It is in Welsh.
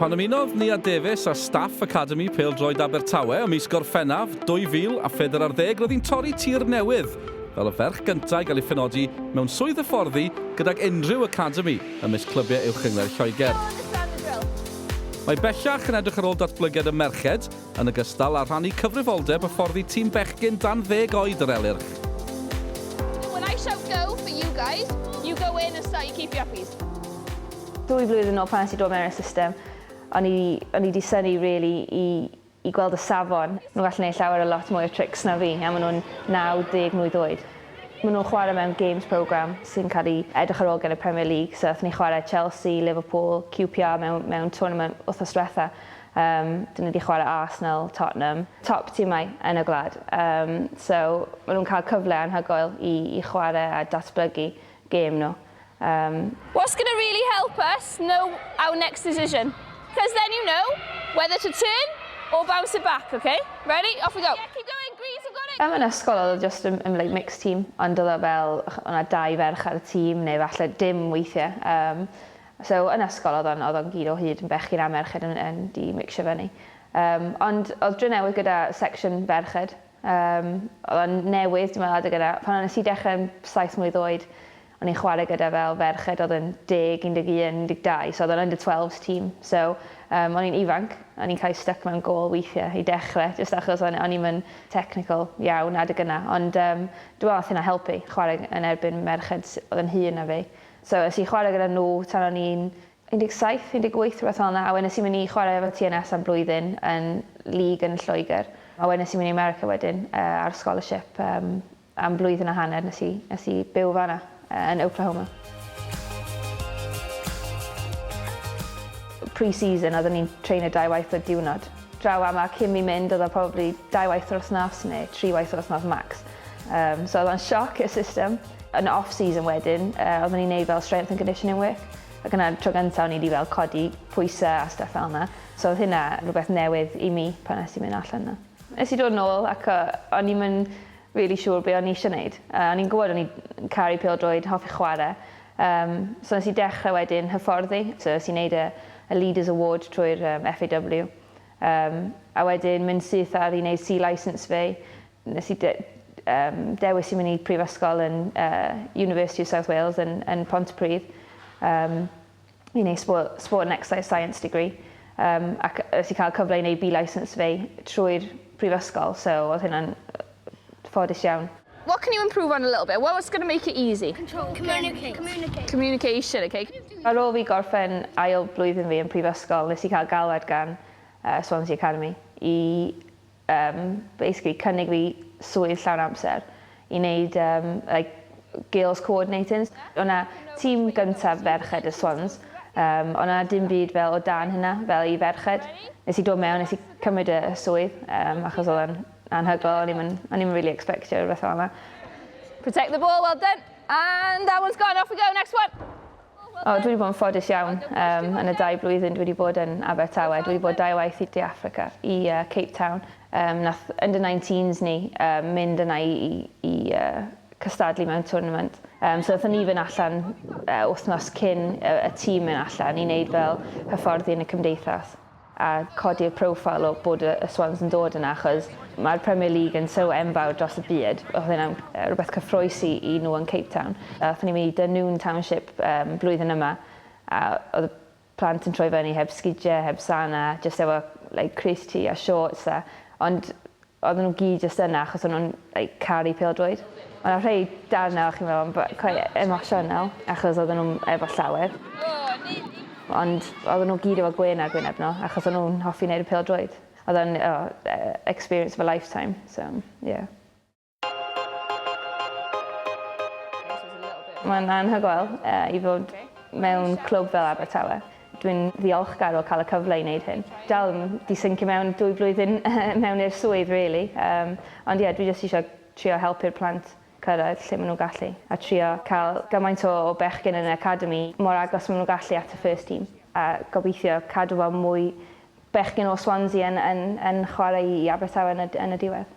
Pan ymunodd Nia Davies â staff Academi Pêl-droed Abertawe ym mis Gorffennaf 2014 roedd hi'n torri tir newydd fel y ferch gyntaf i gael ei phenodi mewn swydd hyfforddi gydag unrhyw academi ymysg clybiau uwch-gyngor Lloegr. Mae bellach yn edrych ar ôl datblygiad y merched, yn ogystal â rhannu cyfrifoldeb hyfforddi tîm bechgyn dan ddeg oed yr Elyrch. When I shout go for you guys, you go in and start your keepy uppies. Dwy flwyddyn yn ôl pan nes i dod mewn i'r system, o'n i o'n i 'di synnu rili i i gweld y safon. Nhw'n gallu neud llawer o lot mwy o trics na fi a ma' nhw'n 90 mlwydd oed. Ma' nhw'n chware mewn games programme sy'n cael ei edrych ar ôl gen y Premier League so athon ni chware Chelsea, Liverpool, QPR mewn mewn tournament wthnos dwetha. Yym, dyn nhw 'di chwarae Arsenal, Tottenham, top timau yn y gwlad. Yym, so, ma' nhw'n cael cyfle anhygoel i i chwarae a datblygu gêm nhw. Yym. What's gonna really help us know our next decision? Cos then you know whether to turn or bounce it back, ok? Ready? Off we go! Yeah, keep going Greece, you've got it! Yym, yn ysgol oedd o jyst yn yn like mixed team, ond oedd o fel, o' 'na dau ferch ar y tîm, neu falle dim weithiau. Yym. So yn ysgol odd o'n odd o'n gyd o hyd yn bechgyn a merched yn yn di mixio fyny. Yym ond odd Drenewydd gyda section ferched yym odd o'n newydd dwi me'wl adeg yna pan o nes i dechre yn saith mlwydd oed o'n i'n chware gyda fel ferched odd yn deg un deg un un deg dau so odd o'n under twelves team so yym o'n i'n ifanc o'n i'n ca'l i styc mewn gôl weithie i dechre jyst achos o'n o'n i'm yn technical iawn adeg yna ond yym dwi me'wl nath hynna helpu chware yn erbyn merched s- odd yn hŷn na fi So es i chwarae gyda nhw tan o'n i'n 17, 18 rhywbeth fel 'na, a wedyn es i mynd i chwarae efo TNS am blwyddyn yn league yn Lloegr, a wedyn es i mynd i America wedyn yy ar scholarship yym am flwyddyn a hanner nes i nes i byw fan'na yy yn Oklahoma. Pre-season oedden ni'n treino dau waith y diwrnod. Draw fama cyn fi mynd odd o probably dau waith yr wthnos ne' tri waith yr wthnos max. Um, so oedd o'n sioc y system. Yn off-season wedyn, uh, oeddwn i'n neud fel strength and conditioning work. Ac yna tro gyntaf o'n i wedi fel codi pwysau a stuff fel yna. So oedd hynna rhywbeth newydd i mi pan nes i mynd allan yna. Nes i dod yn ôl ac o'n i'n mynd really siŵr be o'n i eisiau gwneud. Uh, o'n i'n gwybod o'n i'n caru pil droed, hoffi chwarae. Um, so nes i dechrau wedyn hyfforddi. So nes i wneud y, y Leaders Award trwy'r um, FAW. Um, a wedyn mynd syth ar i wneud C-license fi. Nes i dewis i mynd i prifysgol yn University of South Wales yn Pontypridd i wneud Sport and Exercise Science degree ac nes i cael cyfle i wneud B-licence fi trwy'r prifysgol so oedd hynna'n ffodus iawn. What can you improve on a little bit? What's going to make it easy? Control. Communicate. Communication, ok. Ar ôl fi gorffen ail blwyddyn fi yn prifysgol nes i cael galwad gan Swansea Academy i Yym basically cynnig fi swydd llawn amser i neud yym like girls coordinating. O' 'na tîm gyntaf ferched y Swans yym o' 'na dim byd fel o dan hynna fel i ferched. Nes i dod mewn nes i cymryd y swydd yym achos odd o'n anhygoel o'n i'm yn o'n i'm yn rili ecsbectio rwbeth fel 'na. Protect the ball, well done! And that one's gone, off we go, next one! O, dwi wedi bod yn ffodus iawn um, yn y dau blwyddyn dwi wedi bod yn Abertawe. Dwi wedi bod dau waith i De Africa, i uh, Cape Town. Um, nath under 19s ni um, mynd yna i, i, i uh, cystadlu mewn tournament. Um, so wnaethon ni fynd allan uh, wythnos cyn y, y tîm mynd allan i wneud fel hyfforddi yn y cymdeithas. a codi'r profile o bod y Swans yn dod yna achos mae'r Premier League yn so enfawr dros y byd, oedd hynna'n rhywbeth cyffrous i i nhw yn Cape Town. A aethon ni mynd i Dunoon Township yym blwyddyn yma a oedd y plant yn troi fyny heb sgidie, heb sana, jyst efo like crys-t a shorts a ond Oedden nhw gyd jyst yna achos o'n nhw'n like caru pêl-droed. O' 'na rhei darna o' chi'n meddwl am b- quite emosiynol achos oedden nhw'm efo llawer. Ond oedden nhw gyd efo gwên ar gwyneb nhw achos o'n nhw'n hoffi neud y pêl-droed. Odd o'n o e- experience of a lifetime so yeah. Mae'n anhygoel yy i fod mewn clwb fel Abertawe. Dwi'n ddiolchgar o cael y cyfle i wneud hyn. Dal yn di-syncio mewn dwy flwyddyn mewn i'r swydd rili, yym ond ie dwi jyst eisiau trio helpu'r plant cyrraedd lle maen nhw'n gallu a trio cael gymaint o o bechgyn yn yr academi mor agos maen nhw'n gallu at y first team a gobeithio cadw fel mwy bechgyn o Swansea yn yn yn chwarae i Abertawe yn y yn y diwedd.